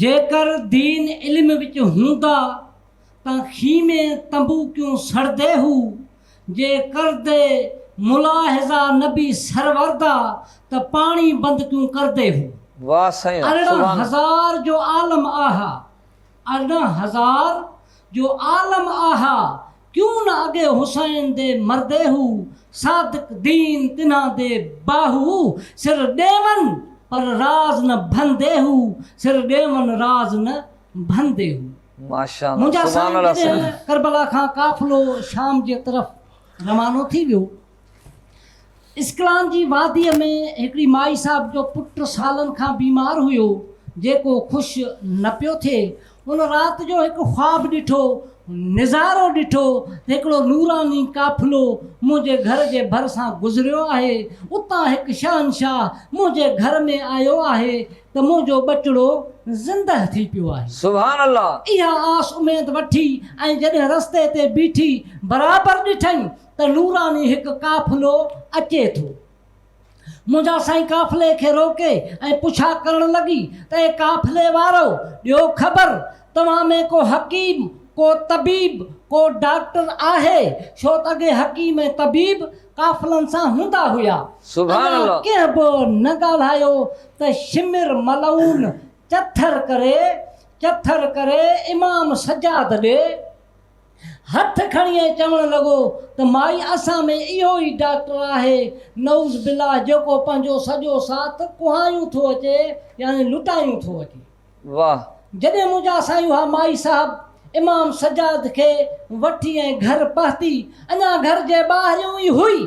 جيڪر دين علم وچ هوندا ته خيمي تنبو ڪيون سڙدي هو جي ڪردي ملاحظا نبي سروردا ته پاڻي بند ڪيون ڪردي هو واه سائين ارڙهن سبحان هزار جو عالم آهه ارڙهن هزار جو عالم آهه ڪيون نه اڳي حسين دي مردي هو، صادق دين تنهان دي باهو سر ڏيون پر راز نه ڀندي هو، سر ڏيون راز نه ڀندي هو. منهنجا سائين جڏهن ڪربلا کان قافلو شام جي طرف روانو ٿي ويو اسڪلان جي واديء ۾ هڪڙي مائي صاحب جو پٽ سالن کان بيمار هيو، جيڪو خوش نه پيو ٿئي. هن رات جو هڪ خواب ڏٺو، نظارو ڏٺو ته هڪڙو نوراني قافلو منهنجي گهر جي ڀرسان گذريو آهي. اتان هڪ شهنشاهه منهنجي گهر ۾ آيو آهي ته منهنجو ٻچڙو زندهه ٿي پيو آهي. سبحان الله! اها آس اميد وٺي ۽ جڏهن رستي تي بيٺي برابر ڏٺئين ته نوراني هڪ قافلو اچي ٿو. منهنجا سائين قافلي کي روڪي ۽ پڇا ڪرڻ لڳي ته اي قافلي وارؤ! ڏيو خبر توهان ۾ ڪو حڪيم، ڪو طبيب، ڪو ڊاڪٽر آهي؟ ڇو ته اڳي حڪيم ۽ طبيب قافلن سان هوندا هيا. اڃا ڪنهن به نه ڳالهايو ته شمر ملعون چٿر ڪري، چٿر ڪري امام سجاد ڏي. هٿ کڻي ۽ چوڻ لڳو ته مائي اسان ۾ اهو ئي ڊاڪٽر آهي نعوذ بالله جيڪو پنهنجو سڄو ساٿ ڪهايون ٿو اچي يعني لٽايون ٿو اچي. واه. جڏهن منهنجا سائين اها مائي صاحب امام سجاد کي وٺي ۽ گهر پهتي اڃا گهر جي ٻاهريون ئي هئي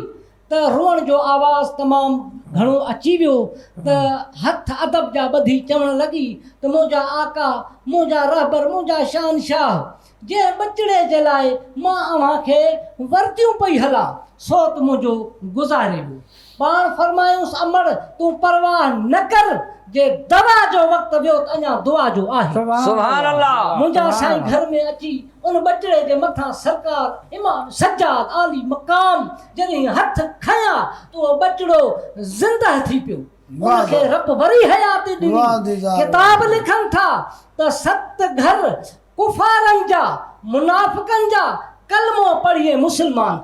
ته روئڻ جو آواز تمام گهڻو اچي ويو ته هٿ ادب جا ٻڌي چوڻ لڳي ته منهنجا آقا، منهنجا رهبر، منهنجا شهنشاهه، جنهن ٻچڙي جي لاء مان اوهان کي ورديون پئي هلان، سو ته منهنجو گذاري ويو. پاڻ فرمايائونس امڙ! تون پرواهه نه ڪر، جي دوا جو وقت ويو ته اڃا دعا جو آهي. سبحان الله! منهنجا سائين گهر ۾ اچي ان ٻٽڙي جي مٿان سرڪار امام سجاد عالي مقام جڏهن هٿ کنيا ته اهو ٻٽڙو زنده ٿي پيو. ان کي رب وري حياتي ڏني. ڪتاب لکن ٿا ته ست گهر ڪفارن جا، منافقن جا، ڪلمو پڙهي مسلمان ٿيا.